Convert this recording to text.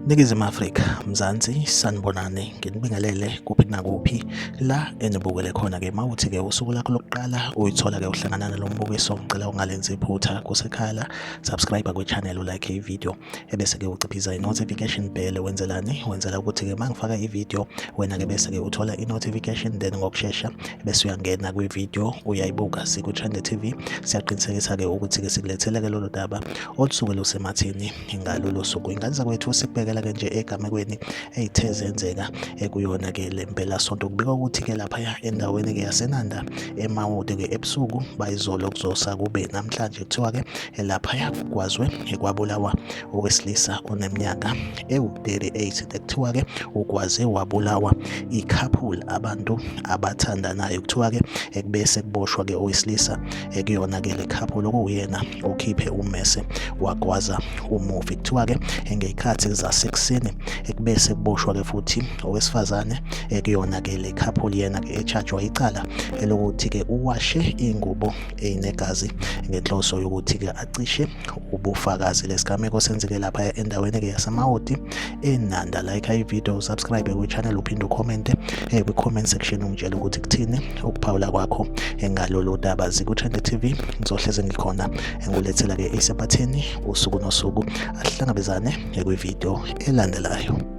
Ningizimu Afrika, Mzansi, sanibonani, nginibingelele kuphi nakuphi la enibukele khona-ke mawuthi-ke usuku lakho lokuqala uyithola-ke uhlangana nalo mbukiso ngicela ungalenzi iphutha kusekhaya la subscribe kwe-channel ulike ivideo ebese-ke uciphiza i-notification bell wenzelani wenzela ukuthi-ke uma ngifaka i-video wena-ke bese-ke uthola i-notification then ngokushesha bese uyangena kwi-video uyayibuka siku-trend tv siyaqinisekisa-ke ukuthi-ke sikulethele-ke lolu daba olusuke lusemathini ngalolo suku ingane zakwethu sikubekela-ke nje egamekweni eyithe zenzeka ekuyona-ke le mpelasonto kubika ukuthi-ke laphaya endaweni-ke yasenanda emawude-ke ebusuku bayizolo kuzosa kube namhlanje kuthiwa-ke laphaya kwazwe kwabulawa owesilisa oneminyaka ewu-38 kuthiwa-ke ukwaze wabulawa ikhaphula abantu abathandanayo kuthiwa-ke ekube sekuboshwa-ke owesilisa ekuyona-ke le khaphula okuwuyena okhiphe ummese wagwaza umufi kuthiwa-ke ngey'khathi zasekuseni ekube sekuboshwa-ke futhi owesifazane ekuyona-ke le khaphula yena-ke etshajwa icala elokuthi-ke uwashe ingubo eyinegazi ngenhloso yokuthi-ke acishe ubufakazi lesigameko senzeke lapha endaweni-ke yasemawoti enanda like ividiyo usubscribe kwichannel uphinde ukhomente um eh, kwi-comment section ungitshela ukuthi kuthini ukuphawula kwakho eh, ngalolu daba zikuthende tv ngizohleze ngikhona eh, ngulethela-ke isematheni usuku nosuku asihlangabezane kwividiyo elandelayo